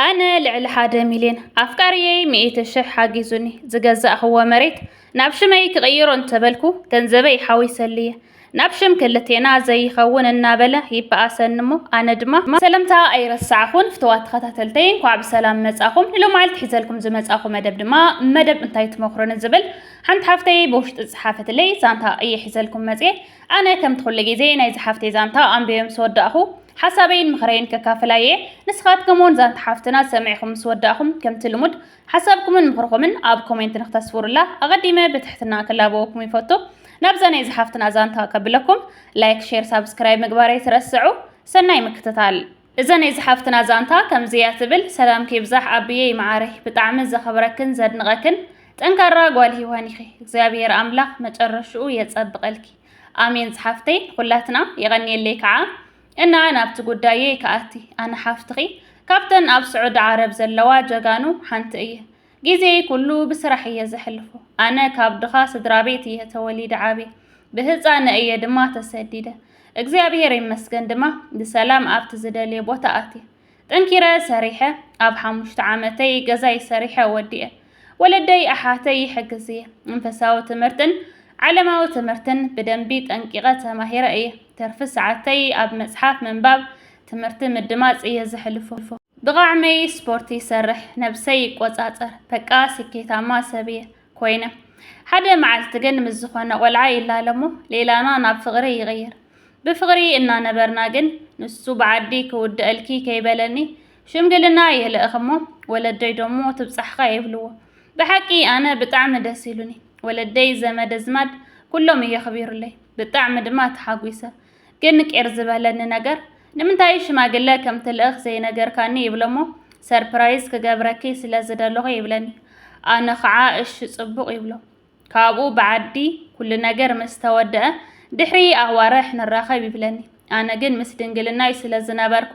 ኣነ ልዕሊ ሓደ ሚልዮን ኣፍቃርየይ ሚእቲ ሽሕ ሓጊዙኒ ዝገዛእኽዎ መሬት ናብ ሽመይ ክቕይሮ እንተበልኩ ገንዘበይ ሓዊሰሉየ ናብ ሽም ክልቴና ዘይኸውን እናበለ ይበኣሰኒ እሞ ኣነ ድማ ሰለምታ ኣይረሳዕኹን ፍተዋት ተኸታተልተይ እንኳዕ ብሰላም መጻኹም ንሎማዓልቲ ሒዘልኩም ዝመጻኹ መደብ ድማ መደብ እንታይ ትመኽሩኒ ዝብል ሓንቲ ሓፍተይ ብውሽጢ ዝጸሓፈትለይ ዛንታ እየ ሒዘልኩም መጽየ ኣነ ከምቲ ኩሉ ግዜ ናይዛ ሓፍተይ ዛንታ ኣንቢበ ምስ ወዳእኹ ሓሳበይን ምኽረይን ከካፍል ኣየ። ንስኻትኩም ውን ዛንታ ሓፍትና ሰሚዕኹም ምስ ወዳእኹም ከምቲ ልሙድ ሓሳብኩምን ምኽርኹምን ኣብ ኮሜንት ንክተስፍሩላ ኣቐዲመ ብትሕትና ክላበወኩም ይፈቱ። ናብዛ ናይዛ ሓፍትና ዛንታ ከብለኩም ላይክ ሼር ሳብስክራይብ ምግባር ኣይትረስዑ። ሰናይ ምክትታል። እዛ ናይ ዝሓፍትና ዛንታ ከምዚ እያ ትብል። ሰላምኪ ይብዛሕ ኣቢየይ መዓረይ ብጣዕሚ ዘኽብረክን ዘድንቐክን ጠንካራ ጓል ሂዋን ኢኺ እግዚኣብሄር ኣምላኽ መጨረሽኡ የጸብቐልኪ ኣሜን ዝሓፍተይ ንኹላትና የቐንየለይ ከዓ እና ናብቲ ጉዳየይ ክኣቲ ኣነ ሓፍትኺ ካብተን ኣብ ስዑዲ ዓረብ ዘለዋ ጀጋኑ ሓንቲ እየ ግዜይ ኩሉ ብስራሕ እየ ዘሕልፎ። ኣነ ካብ ድኻ ስድራቤት እየ ተወሊደ ዓብየ። ብህጻነ እየ ድማ ተሰዲደ። እግዚኣብሄር ይመስገን ድማ ብሰላም ኣብቲ ዝደልዮ ቦታ ኣትየ። ጠንኪረ ሰሪሐ ኣብ ሓሙሽተ ዓመተይ ገዛይ ሰሪሐ ወዲኤ። ወለደይ ኣሓተይ ይሕግዝ እየ። መንፈሳዊ ትምህርትን ዓለማዊ ትምህርትን ብደንቢ ጠንቂቐ ተማሂረ እየ። ትርፊ ሰዓተይ ኣብ መጽሓፍ ምንባብ ትምህርቲ ምድማፅ እየ ዘሕልፎ። ብቃዕመይ ስፖርት ይሰርሕ፣ ነብሰይ ይቆፃፀር፣ በቃ ስኬታማ ሰብ እየ ኮይነ። ሓደ መዓልቲ ግን ምስ ዝኾነ ቆልዓ ይላለሞ ሌላና ናብ ፍቕሪ ይቕይር። ብፍቕሪ እናነበርና ግን ንሱ ብዓዲ ክውድአልኪ ከይበለኒ ሽምግልና የልእኽሞ ወለደይ ደሞ ትብጻሕኻ የብልዎ ብሓቂ ኣነ ብጣዕሚ ደስ ኢሉኒ ወለደይ ዘመድ ኣዝማድ ኩሎም የኽቢሩለይ ብጣዕሚ ድማ ተሓጒሰ ግን ቄር ዝበለኒ ነገር ንምንታይ ሽማግለ ከም ትልእኽ ዘይነገርካኒ ይብለሞ ሰርፕራይዝ ክገብረኪ ስለ ዝደለኹ ይብለኒ ኣነ ኸዓ እሺ ጽቡቕ ይብሎ ካብኡ ብዓዲ ኩሉ ነገር ምስ ተወደአ ድሕሪ ኣዋርሕ ንራኸብ ይብለኒ ኣነ ግን ምስ ድንግልናይ ስለ ዝነበርኩ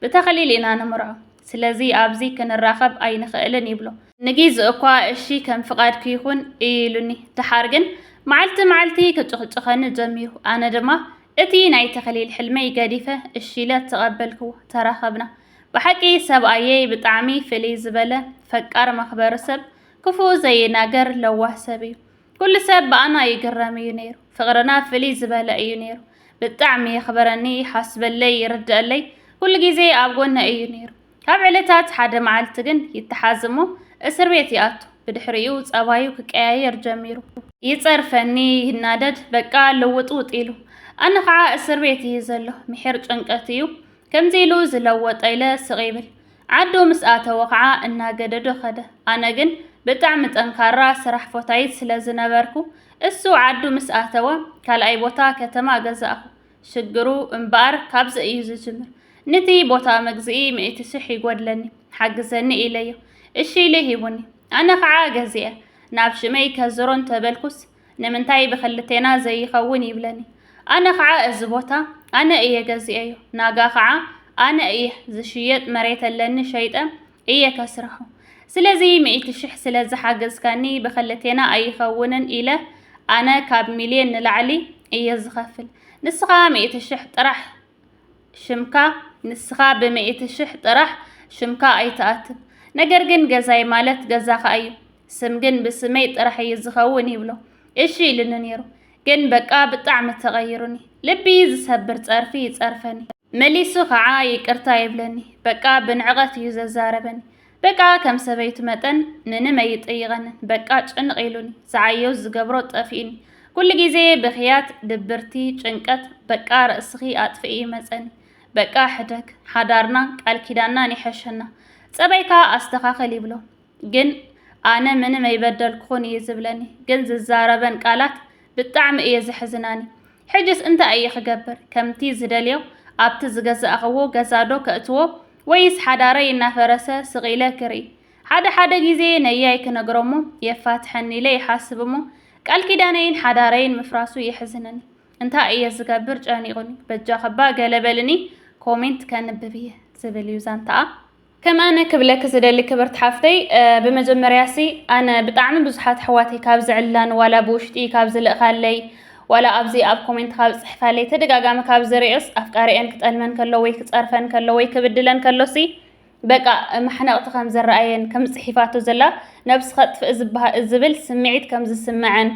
ብተኽሊል ኢና ንምርዖ ስለዚ ኣብዚ ክንራኸብ ኣይንኽእልን ይብሎ ንጊዚኡ'ኳ እሺ ከም ፍቓድኪ ይኹን እዩ ኢሉኒ፣ ደሓር ግን መዓልቲ መዓልቲ ክጭኽጭኸኒ ጀሚሩ። ኣነ ድማ እቲ ናይ ተኽሊል ሕልመይ ገዲፈ እሺ ኢለ ተቐበልክዎ፣ ተራኸብና። ብሓቂ ሰብኣየይ ብጣዕሚ ፍልይ ዝበለ፣ ፈቃር መኽበሪ ሰብ፣ ክፉእ ዘይናገር ለዋህ ሰብ እዩ። ኩሉ ሰብ ብኣና ይግረም እዩ ነይሩ። ፍቕርና ፍልይ ዝበለ እዩ ነይሩ። ብጣዕሚ የኽብረኒ፣ ይሓስበለይ፣ ይርደኣለይ፣ ኩሉ ጊዜ ኣብ ጎነይ እዩ ነይሩ። ካብ ዕለታት ሓደ መዓልቲ ግን ይተሓዝ እሞ እስር ቤት ይኣቱ። ብድሕሪኡ ጸባዩ ክቀያየር ጀሚሩ። ይጸርፈኒ፣ ይናደድ፣ በቃ ልውጥውጥ ኢሉ። ኣነ ኸዓ እስር ቤት እዩ ዘሎ፣ ምሒር ጭንቀት እዩ። ከምዚ ኢሉ ዝለወጠ ኢለ ስቕ ይብል። ዓዱ ምስ ኣተወ ኸዓ እናገደዶ ከደ። ኣነ ግን ብጣዕሚ ጠንካራ ስራሕ ፎታይት ስለ ዝነበርኩ እሱ ዓዱ ምስ ኣተወ ካልኣይ ቦታ ከተማ ገዛእኹ። ሽግሩ እምበኣር ካብዚ እዩ ዝጅምር። ንቲ ቦታ መግዝኢ ሚእቲ ሽሕ ይጎድለኒ ሓግዘኒ ኢለዮ። እሺ ኢሉ ሂቡኒ። ኣነ ከዓ ገዚኤ ናብ ሽመይ ከዝሮ እንተበልኩስ ንምንታይ ብክልቴና ዘይኸውን ይብለኒ። ኣነ ከዓ እዚ ቦታ ኣነ እየ ገዚኤዮ ናጋ ከዓ ኣነ እየ ዝሽየጥ መሬት ኣለኒ ሸይጠ እየ ከስርሖ። ስለዚ ሚእቲ ሽሕ ስለ ዝሓገዝካኒ ብኽልቴና ኣይኸውንን ኢለ ኣነ ካብ ሚልዮን ንላዕሊ እየ ዝኸፍል። ንስኻ ሚእቲ ሽሕ ጥራሕ ሽምካ ንስኻ ብሚእቲ ሽሕ ጥራሕ ሽምካ ኣይትኣትብ። ነገር ግን ገዛይ ማለት ገዛኻ እዩ፣ ስም ግን ብስመይ ጥራሕ እዩ ዝኸውን ይብሎ። እሺ ኢሉኒ ነይሩ። ግን በቃ ብጣዕሚ ተቐይሩኒ ልቢ ዝሰብር ጸርፊ ይጸርፈኒ መሊሱ ከዓ ይቅርታ ይብለኒ በቃ ብንዕቐት እዩ ዘዛረበኒ በቃ ከም ሰበይቱ መጠን ምንም ኣይጥይቐንን በቃ ጭንቕ ኢሉኒ ዝዓዮ ዝገብሮ ጠፊኡኒ ኩሉ ግዜ ብኽያት ድብርቲ ጭንቀት በቃ ርእስኺ ኣጥፍኢ ይመጸኒ በቃ ሕደግ ሓዳርና ቃል ኪዳናን ይሐሸና ጸባይካ ኣስተኻኸል ይብሎ ግን ኣነ ምንም ኣይበደልኩኹን እዩ ዝብለኒ ግን ዝዛረበን ቃላት ብጣዕሚ እየ ዘሕዝናኒ ሕጅስ እንታይ እየ ክገብር ከምቲ ዝደልዮ ኣብቲ ዝገዛእኽዎ ገዛ ዶ ከእትዎ ወይስ ሓዳረይ እናፈረሰ ስቕ ኢለ ክርኢ ሓደ ሓደ ግዜ ነያይ ክነግሮሞ የፋትሐኒ ኢለ ይሓስብ እሞ ቃል ኪዳነይን ሓዳረይን ምፍራሱ የሕዝነኒ እንታይ እየ ዝገብር ጨኒቑኒ በጃኽባ ገለ በልኒ ኮሜንት ከንብብ እየ ዝብል እዩ ዛንታኣ ከም ኣነ ክብለኪ ዝደሊ ክብርቲ ሓፍተይ ብመጀመርያሲ ኣነ ብጣዕሚ ብዙሓት ኣሕዋተይ ካብ ዝዕላን ዋላ ብውሽጢ ካብ ዝልእካለይ ዋላ ኣብዚ ኣብ ኮሜንት ካብ ዝጽሕፋለይ ተደጋጋሚ ካብ ዝርእዮስ ኣፍቃሪኤን ክጠልመን ከሎ ወይ ክጸርፈን ከሎ ወይ ክብድለን ከሎሲ በቃ ማሕነቕቲ ከም ዝረኣየን ከም ጽሒፋቶ ዘላ ነብሲ ከጥፍእ ዝብል ስምዒት ከም ዝስመዐን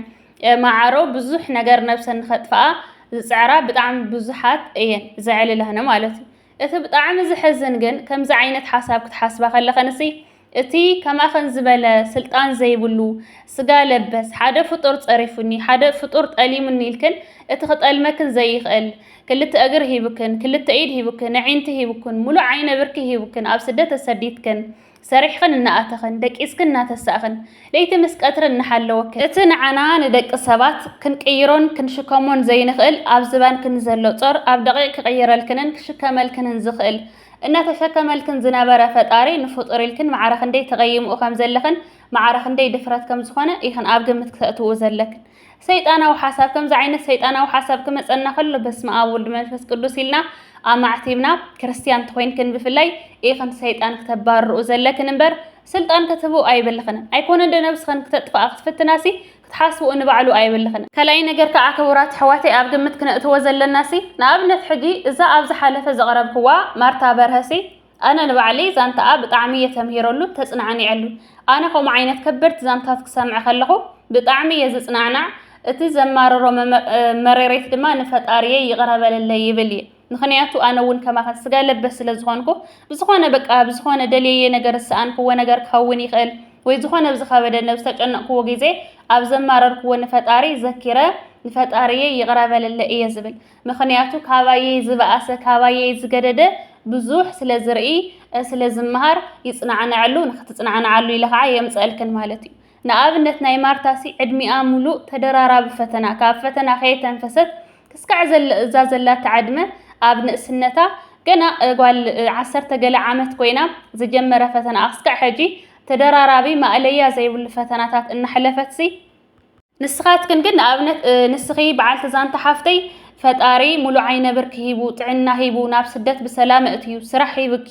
ማዓሮ ብዙሕ ነገር ነብሰን ንኸጥፍኣ ዝጽዕራ ብጣዕሚ ብዙሓት እየን ዘዕልላነ ማለት እዩ እቲ ብጣዕሚ ዘሕዝን ግን ከምዚ ዓይነት ሓሳብ ክትሓስባ ከለኸንሲ እቲ ከማኸን ዝበለ ስልጣን ዘይብሉ ስጋ ለበስ ሓደ ፍጡር ጸሪፉኒ ሓደ ፍጡር ጠሊሙኒ ኢልክን እቲ ክጠልመክን ዘይኽእል ክልተ እግር ሂብክን ክልተ ኢድ ሂብክን ኣዒንቲ ሂብክን ሙሉእ ዓይነ ብርኪ ሂብክን ኣብ ስደት ተሰዲትክን ሰሪሕኽን እናኣተኽን፣ ደቂስክን እናተሳእኽን፣ ለይቲ ምስ ቀትሪ እናሓለወክን፣ እቲ ንዓና ንደቂ ሰባት ክንቅይሮን ክንሽከሞን ዘይንኽእል ኣብ ዝባንኪ ንዘሎ ጾር ኣብ ደቒቕ ክቕይረልክንን ክሽከመልክንን ዝኽእል እናተሸከመልክን ዝነበረ ፈጣሪ ንፍጡር ኢልክን ማዕረ ክንደይ ተቐይምኡ ከምዘለኽን ማዕረ ክንደይ ድፍረት ከምዝኾነ ኢኽን ኣብ ግምት ክተእትውኡ ዘለክን። ሰይጣናዊ ሓሳብ ከምዚ ዓይነት ሰይጣናዊ ሓሳብ ክመጸና ከሎ በስመ ኣብ ወልድ መንፈስ ቅዱስ ኢልና ኣማዕቲብና ክርስትያን ተኾይንክን ብፍላይ ኢኽን ሰይጣን ክተባርርኡ ዘለክን እምበር ስልጣን ክትህቡ ኣይብልኽን ኣይኮነ እንደ ነብስኽን ክተጥፍኣ ክትፍትናሲ ክትሓስብኡ ንባዕሉ ኣይብልኽን ካልኣይ ነገር ከዓ ክቡራት ኣሕዋተይ ኣብ ግምት ክነእትዎ ዘለናሲ ንኣብነት ሕጂ እዛ ኣብ ዝሓለፈ ዘቕረብክዋ ማርታ በርሀሲ ኣነ ንባዕለይ ዛንታኣ ብጣዕሚ እየ ተምሂረሉን ተፅናዕኒዐሉን። ኣነ ከምኡ ዓይነት ከበድቲ ዛንታት ክሰምዕ ከለኹ ብጣዕሚ እየ ዝፅናዕናዕ፣ እቲ ዘማርሮ መሬሬት ድማ ንፈጣሪየይ ይቕረ በለለይ ይብል እየ። ምኽንያቱ ኣነ እውን ከማኸን ስጋ ለበስ ስለ ዝኾንኩ ብዝኾነ በቃ ብዝኾነ ደልየየ ነገር ዝሰኣንክዎ ነገር ክኸውን ይኽእል ወይ ዝኾነ ብዝኸበደ ነብ ዝተጨነቕክዎ ግዜ ኣብ ዘማረርክዎ ንፈጣሪ ዘኪረ ንፈጣሪየይ ይቕረ በለለይ እየ ዝብል። ምኽንያቱ ካባየይ ዝበኣሰ ካባየይ ዝገደደ ብዙሕ ስለ ዝርኢ ስለ ዝመሃር ይጽናዕነዐሉ ንኽትጽናዕነዓሉ ኢለ ኸዓ የምጸእልክን ማለት እዩ። ንኣብነት ናይ ማርታሲ ዕድሚኣ ምሉእ ተደራራቢ ፈተና ካብ ፈተና ከየተንፈሰት ክስካዕ ዘለ እዛ ዘላታ ዕድመ ኣብ ንእስነታ ገና ጓል ዓሰርተ ገለ ዓመት ኮይና ዝጀመረ ፈተናኣ ክስካዕ ሕጂ ተደራራቢ ማእለያ ዘይብሉ ፈተናታት እናሕለፈትሲ ንስኻትክን ግን ንኣብነት ንስኺ በዓልቲ ዛንታ ሓፍተይ ፈጣሪ ሙሉእ ዓይነ ብርኪ ሂቡ ጥዕና ሂቡ ናብ ስደት ብሰላም ኣእትዩ ስራሕ ሂብኪ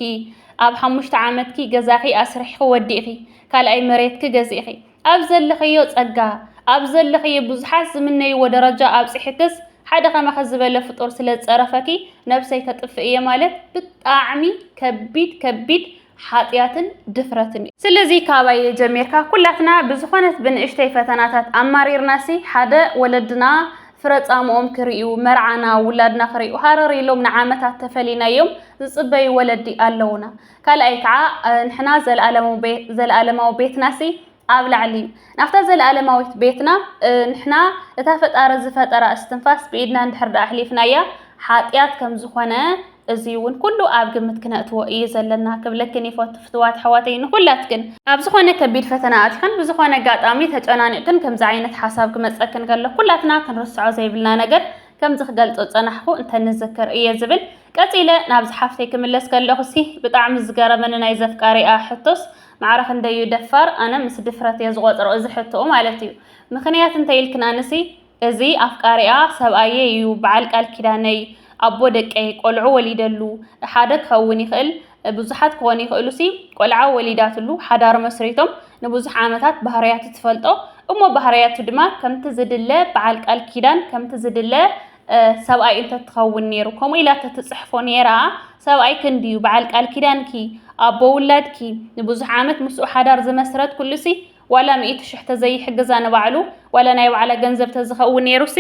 ኣብ ሓሙሽተ ዓመትኪ ገዛኺ ኣስሪሕኺ ወዲእኺ ካልኣይ መሬትኪ ገዚእኺ ኣብ ዘለኽዮ ፀጋ ኣብ ዘለኽዮ ብዙሓት ዝምነይዎ ደረጃ ኣብፂሕክስ ሓደ ከማኺ ዝበለ ፍጡር ስለ ዝፀረፈኪ ነብሰይ ከጥፍእ እየ ማለት ብጣዕሚ ከቢድ ከቢድ ሓጥያትን ድፍረትን እዩ። ስለዚ ካባየ ጀሚርካ ኩላትና ብዝኾነት ብንእሽተይ ፈተናታት ኣማሪርናሲ ሓደ ወለድና ፍረ ጻምኦም ክርእዩ መርዓና ውላድና ክርእዩ ሃረር ኢሎም ንዓመታት ተፈሊናዮም ዝጽበዩ ወለዲ ኣለዉና። ካልኣይ ከዓ ንሕና ዘለኣለማዊ ቤትናሲ ኣብ ላዕሊ ናብታ ዘለኣለማዊት ቤትና ንሕና እታ ፈጣሪ ዝፈጠራ እስትንፋስ ብኢድና እንድሕር ደኣ ኣሕሊፍናያ ሓጢኣት ከም ዝኾነ እዚ እውን ኩሉ ኣብ ግምት ክነእትዎ እዩ ዘለና ክብለክን ይፈቱ ፍትዋት ኣሕዋተይ ንኩላትክን ኣብ ዝኾነ ከቢድ ፈተና ኣቲኽን ብዝኾነ ኣጋጣሚ ተጨናኒቕክን ከምዚ ዓይነት ሓሳብ ክመጸክን ከሎ ኩላትና ክንርስዖ ዘይብልና ነገር ከምዚ ክገልጾ ዝጸናሕኩ እንተንዝክር እየ ዝብል ቀጺለ ናብዚ ሓፍተይ ክምለስ ከለኹሲ ብጣዕሚ ዝገረመኒ ናይ ዘፍቃሪኣ ሕቶስ ማዕረ ክንደይ እዩ ደፋር ኣነ ምስ ድፍረት እየ ዝቆጽሮ እዚ ሕቶኡ ማለት እዩ ምክንያት እንተ ኢልክን ኣነሲ እዚ ኣፍቃሪኣ ሰብኣየይ እዩ በዓል ቃል ኪዳነይ ኣቦ ደቀይ ቆልዑ ወሊደሉ ሓደ ክከውን ይክእል ብዙሓት ክኮኑ ይክእሉ ሲ ቆልዓ ወሊዳትሉ ሓዳር መስሪቶም ንብዙሕ ዓመታት ባህርያቱ ትፈልጦ እሞ ባህርያቱ ድማ ከምቲ ዝድለ በዓል ቃል ኪዳን ከምቲ ዝድለ ሰብኣይ እንተትኸውን ነይሩ ከምኡ ኢላ ተትጽሕፎ ነይራ ሰብኣይ ክንድዩ በዓል ቃል ኪዳንኪ ኣቦ ውላድኪ ንብዙሕ ዓመት ምስኡ ሓዳር ዝመስረት ኩሉሲ ዋላ ሚእቲ ሽሕ ተዘይሕግዛ ንባዕሉ ዋላ ናይ ባዕላ ገንዘብ ተዝኸውን ነይሩሲ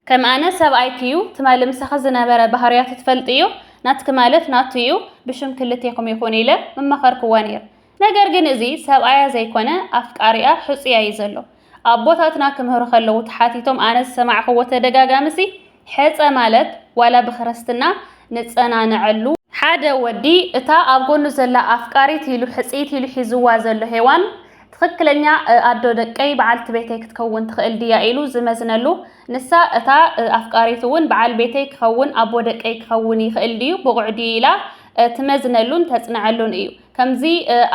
ከም ኣነ ሰብኣይኪ እዩ ትማሊ ምሳኺ ዝነበረ ባህርያቱ ትፈልጥዮ ናትኪ ማለት ናቱ እዩ ብሽም ክልቴኹም ይኹን ኢለ ምመኸርክዋ ነይረ ነገር ግን እዚ ሰብኣያ ዘይኮነ ኣፍቃሪኣ ሕጹያ ዩ ዘሎ ኣቦታትና ክምህሩ ከለዉ ተሓቲቶም ኣነ ዝሰማዕክዎ ተደጋጋሚሲ ሕጸ ማለት ዋላ ብክርስትና ንጸናነዐሉ ሓደ ወዲ እታ ኣብ ጎኑ ዘላ ኣፍቃሪት ኢሉ ሕጽይቲ ኢሉ ሒዝዋ ዘሎ ሄዋን ትክክለኛ ኣዶ ደቀይ በዓልቲ ቤተይ ክትከውን ትክእል ድያ ኢሉ ዝመዝነሉ ንሳ እታ ኣፍቃሪቱ ውን በዓል ቤተይ ክከውን ኣቦ ደቀይ ክከውን ይክእል ድዩ ብቁዕ ድዩ ኢላ ትመዝነሉን ተጽንዐሉን እዩ ከምዚ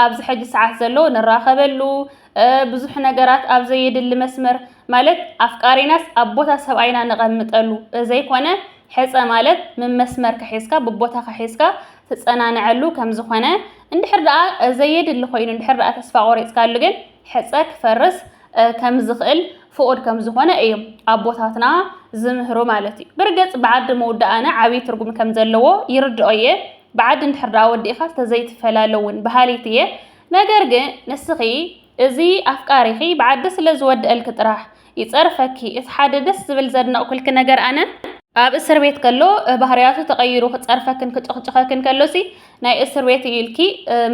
ኣብዚ ሕጂ ሰዓት ዘሎ ንራኸበሉ ብዙሕ ነገራት ኣብ ዘየድሊ መስመር ማለት ኣፍቃሪናስ ኣብ ቦታ ሰብኣይና ነቐምጠሉ ዘይኮነ ሕፀ ማለት ምመስመር ከሒዝካ ብቦታ ከሒዝካ ትፀናነዐሉ ከም ዝኾነ እንድሕር ደኣ ዘየድሊ ኮይኑ እንድሕር ደኣ ተስፋ ቆሪፅካሉ ግን ሕፀ ክፈርስ ከም ዝኽእል ፍቑድ ከም ዝኾነ እዮም ኣቦታትና ዝምህሩ ማለት እዩ። ብርግፅ ብዓዲ ምውዳእና ዓብዪ ትርጉም ከም ዘለዎ ይርድኦ እየ። ብዓዲ እንድሕር ደኣ ወዲእኻስ ተዘይትፈላለ እውን በሃሊት እየ። ነገር ግን ንስኺ እዚ ኣፍቃሪኺ ብዓዲ ስለ ዝወደኣልኪ ጥራሕ ይጸርፈኪ። እቲ ሓደ ደስ ዝብል ዘድነቕኩልኪ ነገር ኣነ፣ ኣብ እስር ቤት ከሎ ባህርያቱ ተቐይሩ ክጸርፈክን ክጭኽጭኸክን ከሎሲ ናይ እስር ቤት እዩ ኢልኪ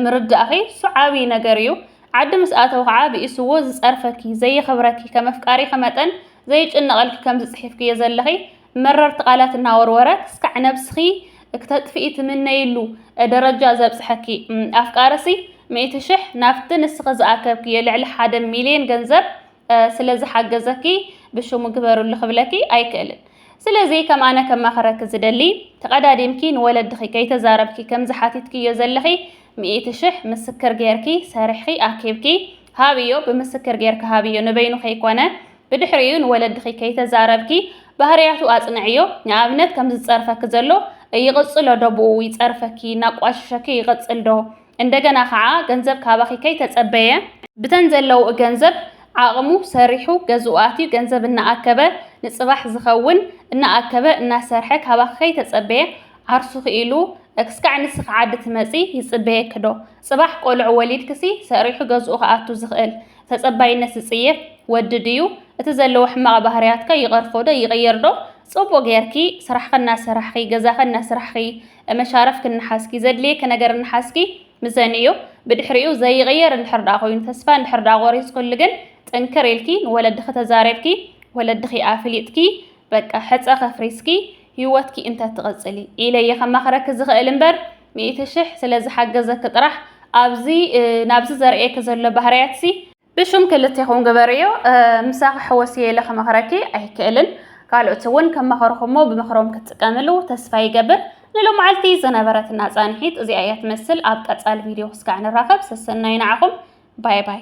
ምርዳእኺ እሱ ዓቢ ነገር እዩ። ዓዲ ምስ ኣተወ ከኣ ብኢሱዎ ዝጸርፈኪ፣ ዘየኽብረኪ፣ ከም ኣፍቃሪኺ መጠን ዘይጭነቐልኪ ከም ዝጽሒፍክዮ ዘለኺ መረርቲ ቃላት እናወርወረ ክስካዕ ነብስኺ ክተጥፍኢ ትምነይሉ ደረጃ ዘብጽሐኪ ኣፍቃሪሲ ሚእቲ ሽሕ ናብቲ ንስኺ ዝኣከብክዮ ልዕሊ ሓደ ሚልዮን ገንዘብ ስለ ዝሓገዘኪ ብሽሙ ግበርሉ ክብለኪ ኣይክእልን። ስለዚ ከም ኣነ ከማኽረኪ ዝደሊ ተቐዳዲምኪ ንወለድኺ ከይተዛረብኪ ከምዚ ሓቲትክዮ ዘለኺ ሚእቲ ሽሕ ምስክር ጌርኪ ሰሪሕኺ ኣኪብኪ ሃብዮ ብምስክር ጌርኪ ሃብዮ ንበይኑ ከይኮነ ብድሕሪኡ ንወለድኺ ከይተዛረብኪ ባህርያቱ ኣጽንዕዮ፣ ንኣብነት ከምዚ ዝጸርፈኪ ዘሎ ይቕጽሎ ዶ ብኡ ይጸርፈኪ እናቋሽሸኪ ይቕጽል ዶ፣ እንደገና ከኣ ገንዘብ ካባኺ ከይተጸበየ፣ ብተን ዘለውኡ ገንዘብ ዓቕሙ ሰሪሑ ገዝኡ ኣትዩ ገንዘብ እናኣከበ ንጽባሕ ዝኸውን እናኣከበ እናሰርሐ ካባኺ ከይተጸበየ ዓርሱኺ ኢሉ ክስካዕ ንስኺ ዓዲ ትመጺ ይጽበየኪ ዶ፣ ጽባሕ ቆልዑ ወሊድክሲ ሰሪሑ ገዝኡ ክኣቱ ዝኽእል ተጸባይነት ዝጽየፍ ወዲ ድዩ? እቲ ዘለዎ ሕማቕ ባህርያትከ ይቐርፎዶ ይቕየርዶ? ጽቡቕ ጌርኪ ስራሕኺ እናሰራሕኺ ገዛኺ እናስራሕኺ መሻርፍኪ እናሓዝኪ ዘድልየኪ ነገር እናሓዝኪ ምሰንዮ። ብድሕሪኡ ዘይቕየር እንድሕር ድኣ ኮይኑ ተስፋ እንድሕር ድኣ ቆሪጽክሉ ግን ጥንክር ኢልኪ ንወለድኺ ተዛሪብኪ ወለድኺ ኣፍሊጥኪ በቃ ሕጸ ከፍሪስኪ ሂወትኪ እንተትቕጽሊ ኢለየ ከማኽረኪ ዝኽእል እምበር ሚእቲ ሽሕ ስለ ዝሓገዘኪ ጥራሕ ኣብዚ ናብዚ ዘርእየኪ ዘሎ ባህርያትሲ ብሽም ክልቴኹም ግበርዮ ምሳኺ ሕወስየ ኢለ ክመኽረኪ ኣይክእልን ካልኦት እውን ከም መኸርኹሞ ብምኽሮም ክትጥቀምሉ ተስፋ ይገብር ንሎማዓልቲ ዝነበረትና ፃንሒት እዚኣ እያ ትመስል ኣብ ቀፃሊ ቪድዮ ክስካዕ ንራኸብ ሰሰናዩ ንዓኹም ባይ ባይ